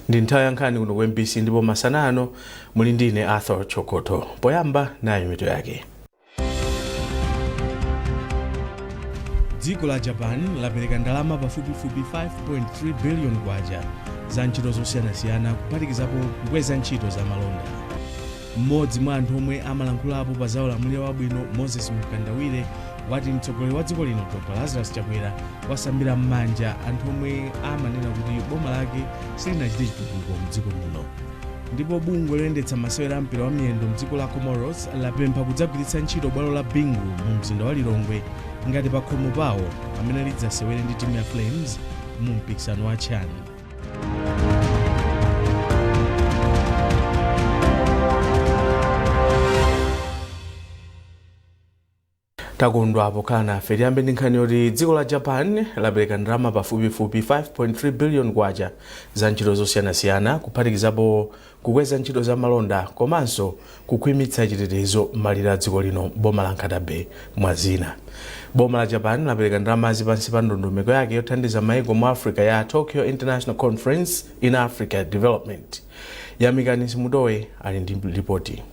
ndi nthawi yankhani kuno ku mbc ndipo masana ano muli ndine arthur chokoto poyamba nayi mitu yake dziko la japan lapereka ndalama pafupifupi 5.3 billion kwacha za ntchito zosiyanasiyana kuphatikizapo kukweza ntchito za malonda M'modzi mwa anthu omwe amalankhulapo pa za ulamuliro wabwino, Moses Mkandawire, wati mtsogoleri wa dziko lino Dr Lazarus Chakwera wasambira m'manja anthu omwe amanena kuti boma lake silinachite chitukuko mdziko muno. Ndipo bungwe loyendetsa masewera a mpira wa miyendo mdziko la Comoros lapempha kudzagwiritsa ntchito bwalo la Bingu mu mzinda wa Lilongwe ngati pakhomo pawo pamene lidzasewere ndi timu ya Flames mu mpikisano wa CHAN. takondwa pokhala nafe tiyambe ndi nkhani yoti dziko la japan lapereka ndalama pafupifupi 5.3 billion kwacha za ntchito zosiyanasiyana kuphatikizapo kukweza ntchito za malonda komanso kukhwimitsa chitetezo m'malire a dziko lino boma la Nkhata Bay, mwa zina. Boma la Japan lapereka ndalamazi pansi pa ndondomeko yake yothandiza maiko mu Africa ya Tokyo International Conference in Africa Development. Yamikani Simutowe ali ndi lipoti.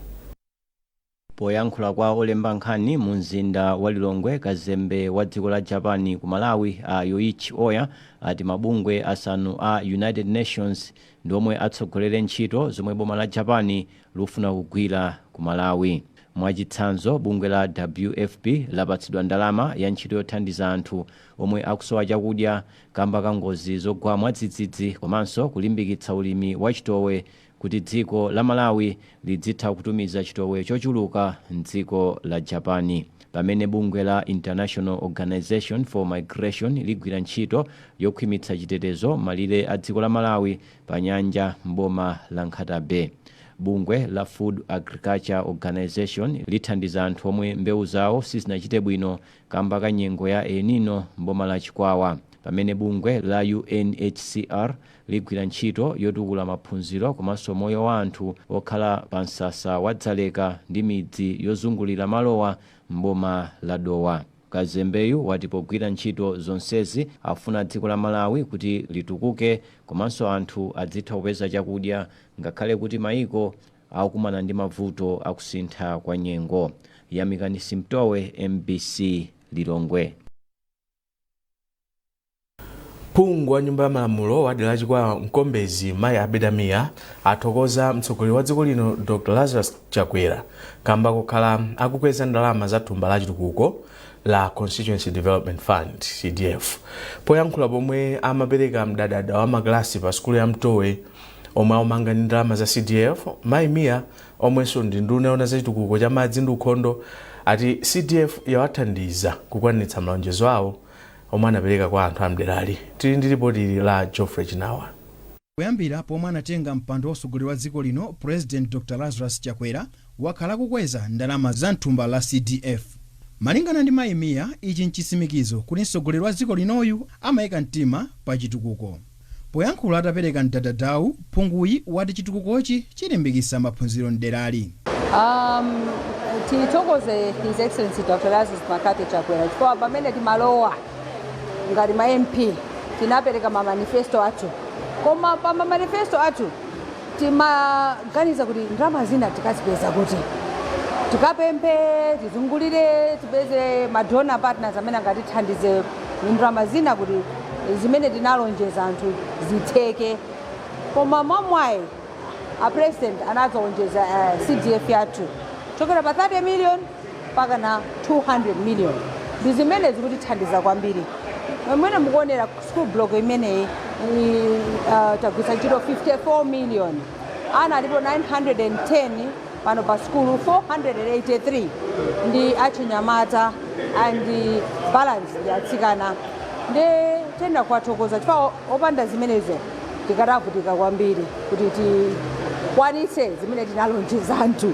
Poyankhula kwa olemba nkhani mu mzinda wa Lilongwe, kazembe wa dziko la Japan ku Malawi a Yoichi Oya ati mabungwe asanu a United Nations ndi omwe atsogolere ntchito zomwe boma la Japan lufuna kugwira ku Malawi. Mwachitsanzo, bungwe la WFP lapatsidwa ndalama ya ntchito yothandiza anthu omwe akusowa chakudya kamba ka ngozi zogwa mwadzidzidzi komanso kulimbikitsa ulimi wa chitowe kuti dziko la Malawi lidzitha kutumiza chitowe chochuluka m'dziko la Japan. Pamene bungwe la International Organization for Migration ligwira ntchito yokhwimitsa chitetezo malire a dziko la Malawi pa nyanja m'boma la Nkhata Bay. Bungwe la Food Agriculture Organization lithandiza anthu omwe mbewu zawo sizinachite bwino kamba ka nyengo ya El Nino m'boma la Chikwawa pamene bungwe la UNHCR ligwira ntchito yotukula maphunziro komanso moyo wa anthu okhala pa msasa wa Dzaleka ndi midzi yozungulira malowa m'boma la Dowa. Kazembeyu wati pogwira ntchito zonsezi afuna dziko la Malawi kuti litukuke komanso anthu adzitha kupeza chakudya ngakhale kuti maiko akukumana ndi mavuto akusintha kwa nyengo. Yamikani Simtowe, MBC Lilongwe. Phungu wa nyumba ya malamulo wa dera la Chikwawa Mkombezi mayi Abida Mia athokoza mtsogoleri wa dziko lino Dr Lazarus Chakwera kamba kokhala akukweza ndalama za thumba la chitukuko la Constituency Development Fund CDF poyankhula pomwe amapereka mdadada wa makalasi pa sukulu ya Mtowe omwe aumanga ndi ndalama za CDF, Mayi Mia omwenso ndi nduna yoona za chitukuko cha madzi ndi ukhondo ati CDF yawathandiza kukwaniritsa malonjezo awo omwe anapereka kwa anthu a m'derali. Tili ndi lipoti la Geoffrey Chinawa. Kuyambira pomwe anatenga mpando wa utsogoleri wa dziko lino, Purezidenti Dr Lazarus Chakwera wakhala akukweza ndalama za m'thumba la CDF. Malingana ndi Mayi Mia, ichi n'chitsimikizo kuti mtsogoleri wa dziko linoyu amaika mtima pa chitukuko. Poyankhula atapereka mdadadawu, phunguyi wati chitukukochi chilimbikitsa maphunziro m'derali. Tithokoze His Excellency Dr Lazarus McCarthy Chakwera chifukwa pamene timalowa ngati ma MP tinapereka ma manifesto athu koma pa ma manifesto athu timaganiza kuti ndalama zina tikazipeza kuti, tikapemphe, tizungulire tipeze ma donor partners amene angatithandize ndalama zina kuti. zimene tinalonjeza anthu zitheke koma mwamwayi a president anadzaonjeza uh, cdf yathu chokera pa 30 million mpaka na 200 million ndi zimene zikutithandiza kwambiri mwene mukuonera school block imeneyi i- uh, tagwitsa ntchito 54 million ana alipo 910 Pano pa sukulu 483 ndi achinyamata and balance ndi atsikana ndi tiyenera kuwathokoza chifukwa opanda zimenezo tikadavutika kwambiri kuti tikwanitse zimene tinalonjeza anthu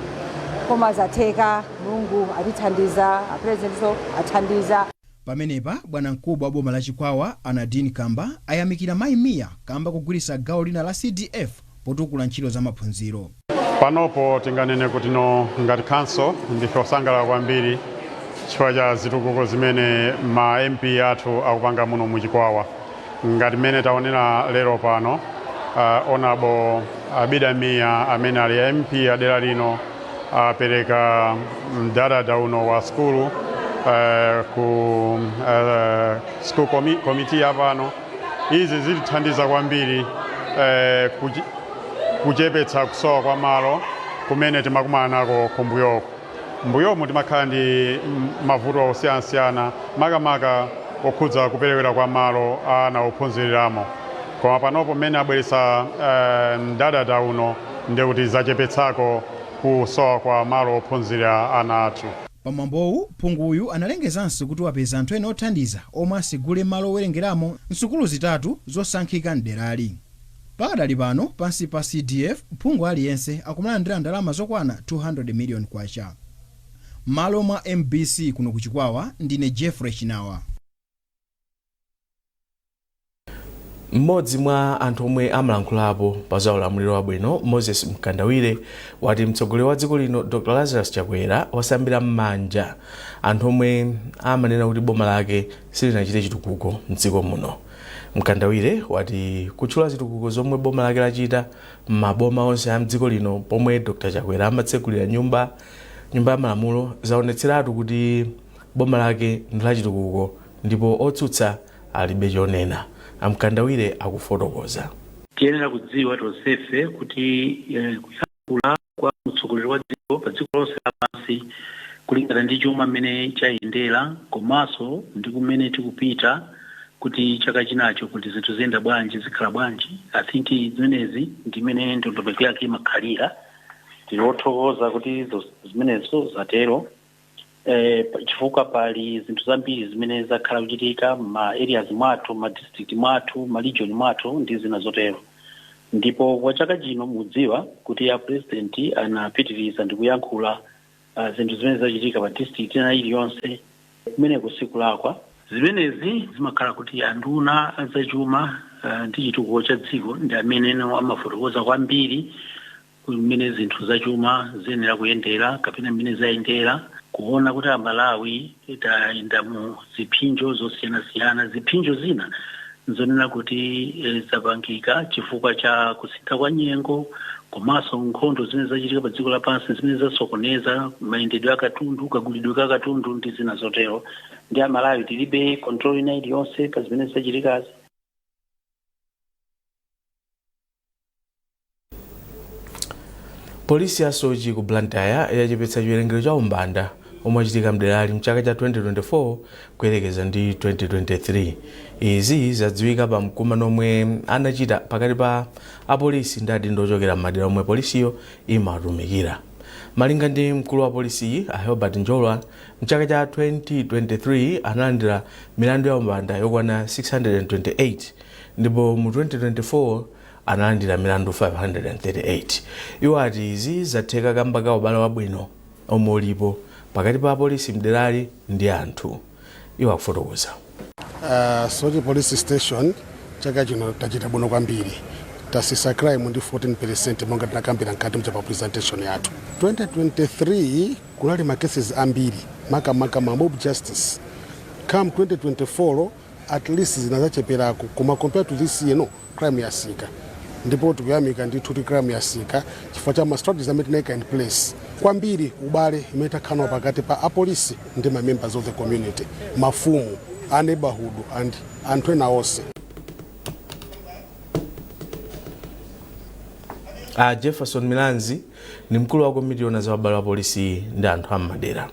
koma zatheka mulungu atithandiza apresidentso athandiza Pamenepa bwanamkubwa wa boma la Chikwawa a Nadine Kamba ayamikira mayi Mia kamba kogwiritsa gawo lina la CDF potukula ntchito za maphunziro. Panopo tinganene kutino ngati khanso ndife osangalala kwambiri chifukwa cha zitukuko zimene ma MP athu akupanga muno mu Chikwawa. Ngati mmene taonera lero pano, Hon'ble Abida Mia amene ali MP a dera lino apereka mdadada uno wa sukulu eh, ku eh, school comi- committee ya pano. Izi zitithandiza kwambiri eh, kuchi- kuchepetsa kusowa kwa malo kumene timakumana nako kumbuyoku. M'mbuyomu timakhala ndi mavuto osiyanasiyana makamaka okhudza kuperewera kwa malo a ana ophunziliramo koma panopo mmene abweretsa mdadada uno ndi kuti zachepetsako kusowa kwa malo ophunzilira ana athu. Pamwambowu, phunguyu analengezanso kuti wapeza anthu ena othandiza omwe asegule malo owerengeramo m'sukulu zitatu zosankhika m'derali. Pakadali pano, pansi pa CDF, phungu aliyense akumalandira ndalama zokwana 200 million kwacha. M'malo mwa mbc kuno ku Chikwawa, ndine Jeffrey Chinawa. M'modzi mwa anthu omwe amalankhulapo pa za ulamuliro wabwino, Moses Mkandawire, wati mtsogoleri wa dziko lino Dr Lazarus Chakwera wasambira m'manja anthu omwe amanena kuti boma lake silinachite chitukuko m'dziko muno. Mkandawire wati kutchula zitukuko zomwe boma lake lachita m'maboma onse a m'dziko lino pomwe Dr Chakwera amatsegulira nyumba nyumba ya malamulo zaonetseratu kuti boma lake ndi la chitukuko ndipo otsutsa alibe chonena. A Mkandawire akufotokoza. Tiyenera kudziwa tonsefe kuti eh, kuyankhula kwa mtsogoleri wa dziko pa dziko lonse lapansi kulingana ndi chuma mmene chayendera komanso ndi kumene tikupita kuti chaka chinacho kuti zinthu ziyenda bwanji zikhala bwanji i think zimenezi ndi mmene ndondomeko yake imakhalira tiri othokoza kuti zo- zimenezo zatero eh, pa- chifukwa pali zinthu zambiri zimene zakhala kuchitika ma areas mwathu ma district mwathu ma region mwathu ndi zina zotero ndipo kwa chaka chino mudziwa kuti a president anapitiriza ndi kuyankhula uh, zinthu zimene zachitika pa district ina iliyonse kumeneko sikulakwa zimenezi zimakhala kuti anduna azachuma uh, ndi chitukuko cha dziko ndi amene no amafotokoza kwambiri mmene zinthu zachuma ziyenera kuyendera kapena mmene zayendera, kuona kuti Amalawi tayenda mu ziphinjo zosiyanasiyana. Ziphinjo zina nzonena kuti eh, zapangika chifukwa cha kusintha kwa nyengo komanso nkhondo zimene zachitika pa dziko lapansi zimene zasokoneza mayendedwe a katundu, kagulidwe ka katundu ndi zina zotero. Ndi Amalawi tilibe control ina iliyonse pa zimene zachitikazi. polisi ya soche ku blantyre yachepetsa chiwerengero cha umbanda omwe achitika mderali mchaka cha 2024 kuyerekeza ndi 2023 izi zadziwika pa mkumano omwe anachita pakati pa apolisi ndi adindo ochokera m'madera omwe polisiyo imatumikira malinga ndi mkulu wa polisiyi a herbert njolwa mchaka cha 2023 analandira milandu ya umbanda yokwana 628 ndipo mu 2024 analandira milandu 538. Iwo ati izi zatheka kamba ka ubale wabwino omwe ulipo pakati pa apolisi mderali ndi anthu. Iwo akufotokoza. Uh, Soche Police Station chaka chino tachita bwino kwambiri tasisa crime ndi 14% monga tinakambira mkati mcha pa presentation yathu 2023 kunali ma cases ambiri makamaka ma mob justice come 2024 at least zinazachepelako koma compared to this year no crime yasika ndipo tikuyamika ndithu kuti crime yasika chifukwa cha ma strategies amene tinaika in place kwambiri ubale imene takhala pakati pa apolisi ndi ma members of the community mafumu a neighborhood and anthu ena onse a jefferson milanzi ndi mkulu wa komiti yona za ubale wa polisi ndi anthu am'madera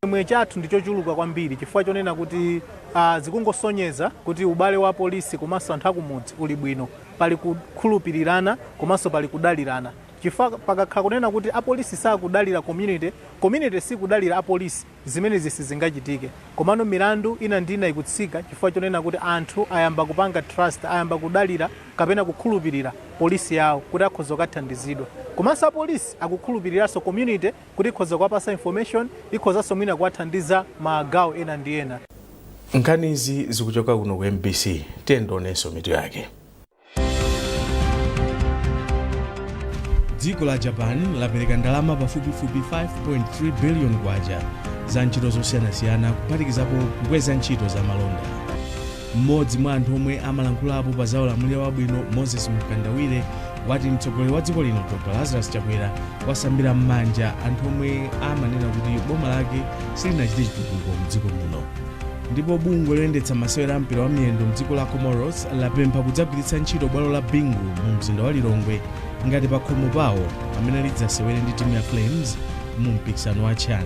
Chimwemwe chathu ndi chochuluka kwambiri chifukwa chonena kuti aah zikungosonyeza kuti ubale wa polisi komanso anthu akumudzi uli bwino, pali kukhulupirirana komanso pali kudalirana chifukwa pakakhala kunena kuti apolisi sakudalira community, community sikudalira apolisi, zimenezi sizingachitike. Komano milandu ina ndi ina ikutsika chifukwa chonena kuti anthu ayamba kupanga trust, ayamba kudalira kapena kukhulupirira polisi yawo kuti akhoza kukathandizidwa. Komanso apolisi akukhulupiriranso community. kuti ikhoza kuwapasa information, ikhozanso mwina kuwathandiza magawo ena ndi ena. Nkhanizi zikuchoka kuno ku MBC, tiyeni tionenso mitu yake. dziko la japan lapereka ndalama pafupifupi 5.3 billion kwacha za ntchito zosiyanasiyana kuphatikizapo kukweza ntchito za malonda M'modzi mwa anthu omwe amalankhulapo pa za ulamuliro wabwino, Moses Mkandawire, wati mtsogoleri wa dziko lino Dr Lazarus Chakwera wasambira m'manja anthu omwe amanena kuti boma lake silinachite chitukuko mdziko muno. Ndipo bungwe loyendetsa masewera a mpira wa miyendo mdziko la Comoros lapempha kudzagwiritsa ntchito bwalo la Bingu mu mzinda wa Lilongwe ngati pakhomo pawo pamene lidzasewere ndi timu ya Flames mu mpikisano wa CHAN.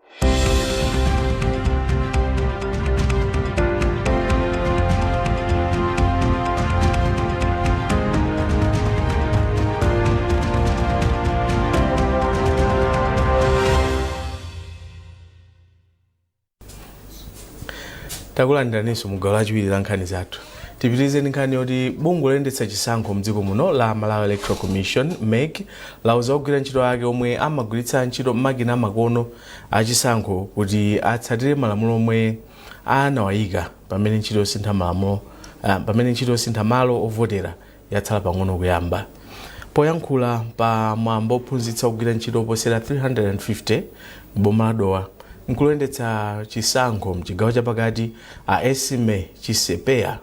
takulandiraninso mugawo lachiwiri la nkhani zathu tipitirize ndi nkhani yoti bungwe loyendetsa chisankho mdziko muno la malawi electoral commission mec lauza ogwira ntchito ake omwe amagwiritsa ntchito makina amakono achisankho kuti atsatire malamulo omwe anawayika pamene ntchito yosintha malamulo ah, pamene ntchito yosintha malo ovotera yatsala pang'ono kuyamba poyankhula pa mwambo ophunzitsa ogwira ntchito oposera 350 m'boma la dowa mkulu oyendetsa chisankho mchigawo chapakati a esme chisepeya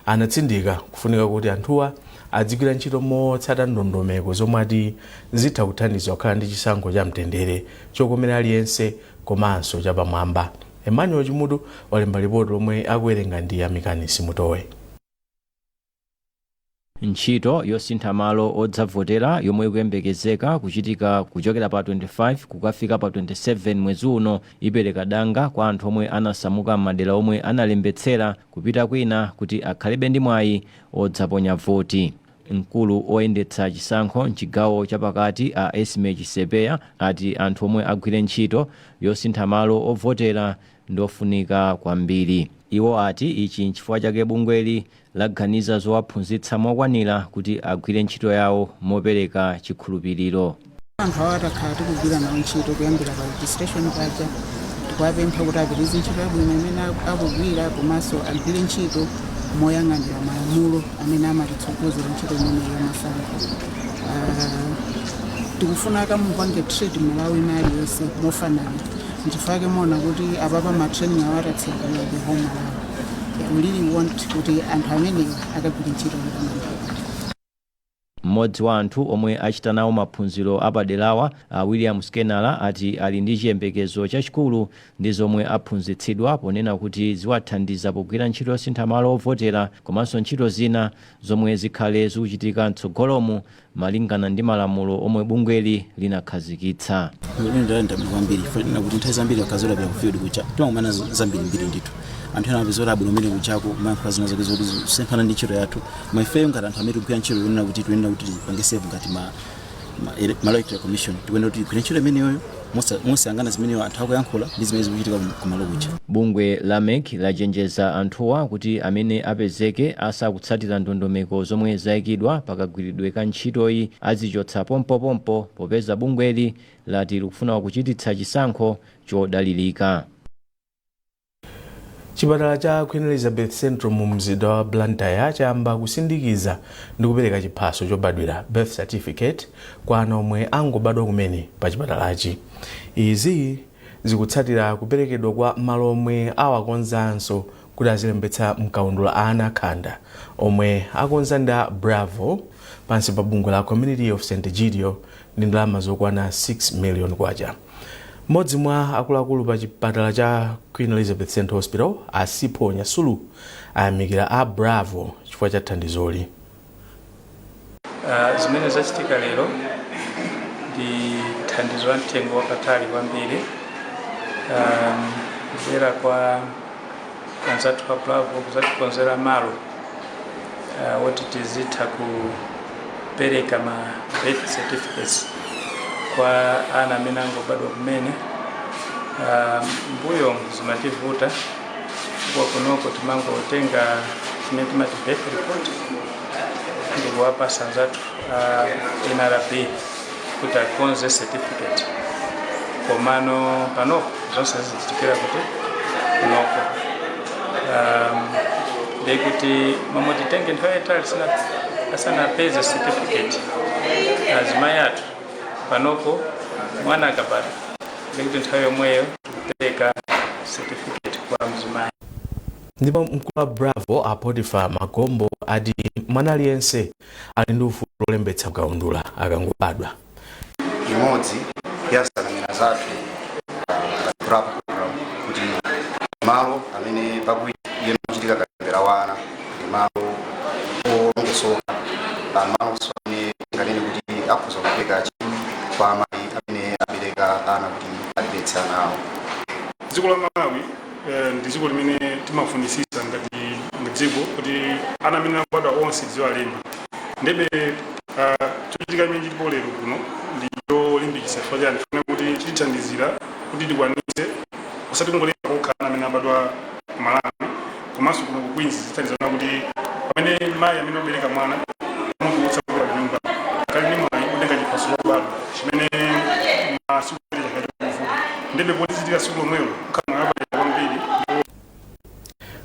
Anatsindika kufunika kuti anthuwa adzigwira ntchito motsata ndondomeko zomwe ati zitha kuthandiza kukhala ndi chisankho cha mtendere, chokomera aliyense komanso chapamwamba. Emmanuel Chimutu walemba lipoti lomwe akuwerenga ndi Yamikani Simutowe. Ntchito yosintha malo odzavotera yomwe ikuyembekezeka kuchitika kuchokera pa 25 kukafika pa 27 mwezi uno ipereka danga kwa anthu omwe anasamuka m'madera omwe analembetsera kupita kwina kuti akhalebe ndi mwayi odzaponya voti. Mkulu oyendetsa chisankho m'chigawo cha pakati a Esmie Chisepeya ati anthu omwe agwire ntchito yosintha malo ovotera ndi ofunika kwambiri. Iwo ati ichi n'chifukwa chake bungweli laganiza zowaphunzitsa mokwanira kuti agwire ntchito yawo mopereka chikhulupiriro. Anthu awa takhala tikugwira nawo ntchito kuyambira pa registration paja tikuwapempha kuti apitirize ntchito yabwino imene aku- akugwira komanso agwire ntchito moyang'anira malamulo amene amatitsogozera ntchito imeneyi yamasankho. Ah, tikufuna akamupange treat mmalawi wina aliyonse mofanana nchifukwa chake muona kuti apapa matraining awa tatsekulira ku whole malawi We really want kuti anthu amenewa akagwire ntchito mopambana. M'modzi wa anthu omwe achita nawo maphunziro apaderawa, a William Skenala ati ali ndi chiyembekezo chachikulu ndi zomwe aphunzitsidwa ponena kuti ziwathandiza pogwira ntchito yosintha malo ovotera komanso ntchito zina zomwe zikhale zikuchitika mtsogolomu malingana ndi malamulo omwe bungweli linakhazikitsa. Ine ndapindula kwambiri chifukwa chonena kuti nthawi zambiri tikamapita ku field kuja timakumana z- zambirimbiri ndithu anthu ena apeza kuti abwino kumene kujako amayankhula zina zake zoti zisemphana ndi ntchito yathu koma ifeyo ngati anthu amene tikugwira ntchito yonena kuti tiyenera kuti tipange serve ngati ma ma ele- malawi electoral commission tikuyenera kuti tigwire ntchito imeneyoyo Mosa- mosayang'ana zimene anthu akuyankhula ndi zimene zikuchitika kum- kumalo kuja bungwe la mec lachenjeza anthuwa kuti amene apezeke asakutsatira ndondomeko zomwe zayikidwa pakagwiridwe ka ntchitoyi adzichotsa pompopompo popeza bungweli lati likufuna kuchititsa chisankho chodalirika chipatala cha queen elizabeth central mu mzinda wa blantyre chayamba kusindikiza ndi kupereka chiphaso chobadwira birth certificate kwa ana omwe angobadwa kumene pa chipatalachi izi zikutsatira kuperekedwa kwa malo omwe awakonzanso kuti azilembetsa mkaundula ana akhanda omwe akonza ndi a bravo pansi pa bungwe la community of st egidio ndi ndalama zokwana 6 million kwacha Mmodzi mwa akuluakulu pa chipatala cha Queen Elizabeth Central Hospital, a Sipho Nyasulu, ayamikira a Bravo chifukwa cha thandizoli. Ah, zimene zachitika lero ndi thandizo la mtengo wapatali kwambiri ah, kudzera kwa anzathu a Bravo kuzatikonzera malo uh, woti tizitha kupereka ma birth certificates kwa ana amene angobadwa kumene uh, mbuyo zimativuta chifukwa kunoko timangotenga chimene timati birth report ndikuwapasa anzathu a uh, nrb kuti akonze certificate komano panopo zonse zizichitikira kuti kunoko um, ndiye kuti mmalo moti titenge nthawi yaitali sina- asanapeze certificate azimayi athu panopo mwana akabadwa ndiye kuti nthawi yomweyo tikupereka certificate kwa mzimayi ndipo mkulu wa bravo a potiphar magombo ati mwana aliyense ali ndi ufulu olembetsa mkaundula akangobadwa. Imodzi ya nsanamira zathu ngati bravo kuti malo amene pakuchitika kalembera wa ana ndi malo olongosoka malonso amene tinganene kuti akhoza kupereka chidwi kwa amayi amene abereka ana kuti alembetse ana awo. Dziko la Malawi Eh, ndi dziko limene timafunisisa ngati dziko kuti ana amene akubadwa onse tiziwalemba ndiye ah, chochitika chimene chilipo lero kuno ndi cholimbikitsa chifukwa chani tikufuna kuti chitithandizira kuti tikwanise osati kungolemba kokha ana amene abadwa ku malawi komanso kuno ku queens zithandizana kuti pamene mayi amene abereka mwana amutulutsa kubwerera kunyumba akhale ndi mwayi otenga chiphaso chobadwa chimene masiku apitawa chikuvuta ndiye poti zichitika siku lomwelo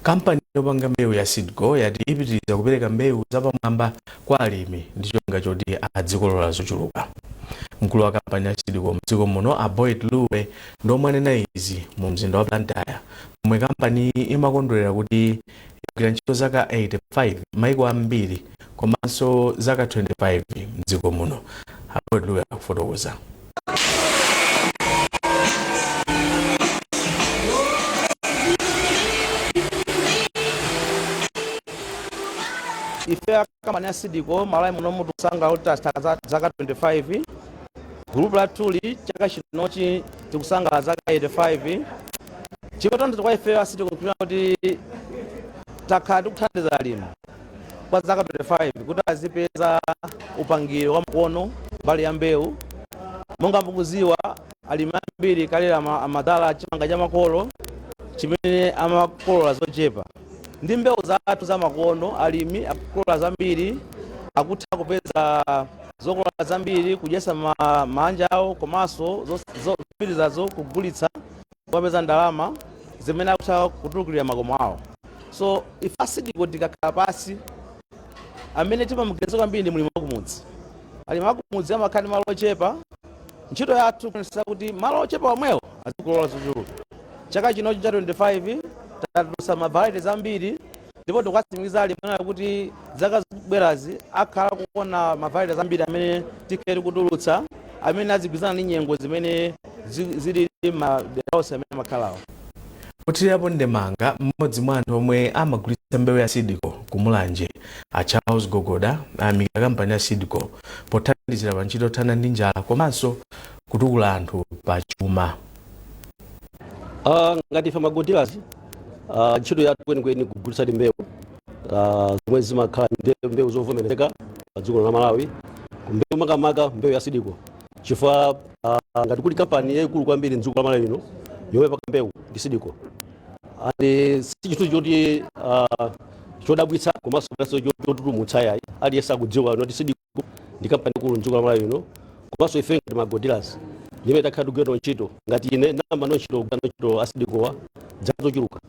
kampani yopanga mbewu ya seedco yati ipitiriza kupereka mbewu zapamwamba kwa alimi ndi cholinga choti adzikolola zochuluka mkulu wa kampani ya seedco mdziko muno a boyd luwe ndi omwe anena izi mu mzinda wa blantyre pomwe kampaniyi imakondwerera kuti yagwira ntchito zaka 85 maiko ambiri komanso zaka 25 mdziko muno a boyd luwe akufotokoza ife akampani ya seedco malawi munomu tikusangalala kuti tatha za- zaka 25 gulupu lathuli, chaka chinochi tikusangalala zaka 85 chikutanthauza kwa ife a seedco kupita kuti takhala tikuthandiza alimi kwa zaka 25 kuti azipeza upangiri wa makono mbali ya mbewu monga mukuziwa alimi ambiri kale ama- amadzala chimanga cha makolo chimene amakolola zochepa ndi mbewu zathu za makono alimi akukolola zambiri akutha kupeza zokolola zambiri kudyesa ma, maanja awo komanso zos- zo- zopitirizazo kugulitsa kupeza ndalama zimene akutha kutukulira makomo awo so ife a Seedco tikakhala pasi amene timamuganiza kwambiri ndi mlimi wakumudzi alimi akumudzi amakhala ndi malo ochepa ntchito yathu kuonetsetsa kuti malo ochepa omwewo azikolola zochuluka chaka chinochi cha 25 tatulutsa ma varieties ambiri ndipo tikuwatsimikizira alimi athu kuti zaka zikubwerazi akhala kuona ma varieties ambiri amene tikhale tikutulutsa amene azigwirizana ndi nyengo zimene zilili madera onse amene amakhalawo pothirirapo ndemanga mmodzi mwa anthu omwe amagulitsa mbewu ya Seedco ku mulanje a charles gogoda ayamikira kampani ya Seedco pothandizira pa ntchito yothana ndi njala komanso kutukula anthu pa chuma Uh, ngati ife ma agro dealers uh, ah, ntchito yathu kwenikweni kugulitsadi mbewu uh, zomwe zimakhala mbewu zovomerezeka pa dziko la Malawi mbewu makamaka mbewu ya Seedco chifukwa uh, ngati kuli kampani yaikulu kwambiri mdziko la Malawi lino yomwe imapaka mbewu ndi Seedco and si chinthu choti uh, chodabwitsa komanso chotutumutsa ayi aliyense akudziwa kuti Seedco ndi kampani yaikulu mdziko la malawi lino komanso ife ngati ma agro dealers ndi amene takhala tikugwira nawo ntchito ngati ine ndayamba nawo ntchito kugwira nawo ntchito a Seedcowa dzaka zochuluka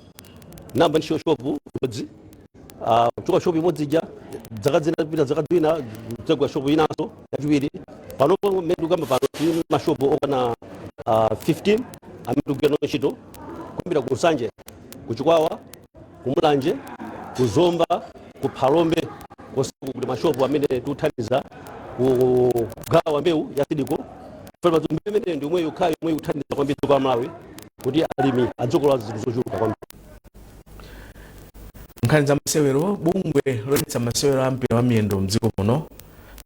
ndayamba ntchito shopu imodzi Ah, kuchoka shopu imodzi ija dzaka zina kupita dzaka zina kutsegula shopu inanso yachiwiri panopo mmene tikukamba pano tili ndi mashopu okwana ah, 15 amene tikugwira nawo ntchito kuyambira ku nsanje ku chikwawa ku mulanje ku zomba ku phalombe konseko kuli mashopu amene tikuthandiza kugawa mbewu ya Seedco chifukwa kuti mbewu imeneyo ndi yomwe yokhayo yomwe ikuthandiza kwambiri dziko la malawi kuti alimi adzikolola zinthu zochuluka kwambiri nkhani za masewero bungwe loyendetsa masewero a mpira wa miyendo mdziko muno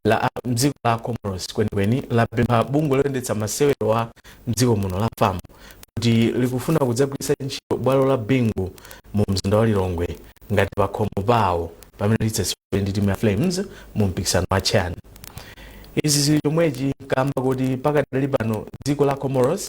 la a- mdziko la comoros kwenikweni lapempha bungwe loyendetsa masewero a mdziko muno la fam kuti likufuna kudzagwiritsa ntchito bwalo la Bingu mu mzinda wa Lilongwe ngati pakhomo pawo pamene lidzasewere ndi timu ya Flames mu mpikisano wa CHAN. Izi zili chomwechi kamba kuti pakadali pano dziko la Comoros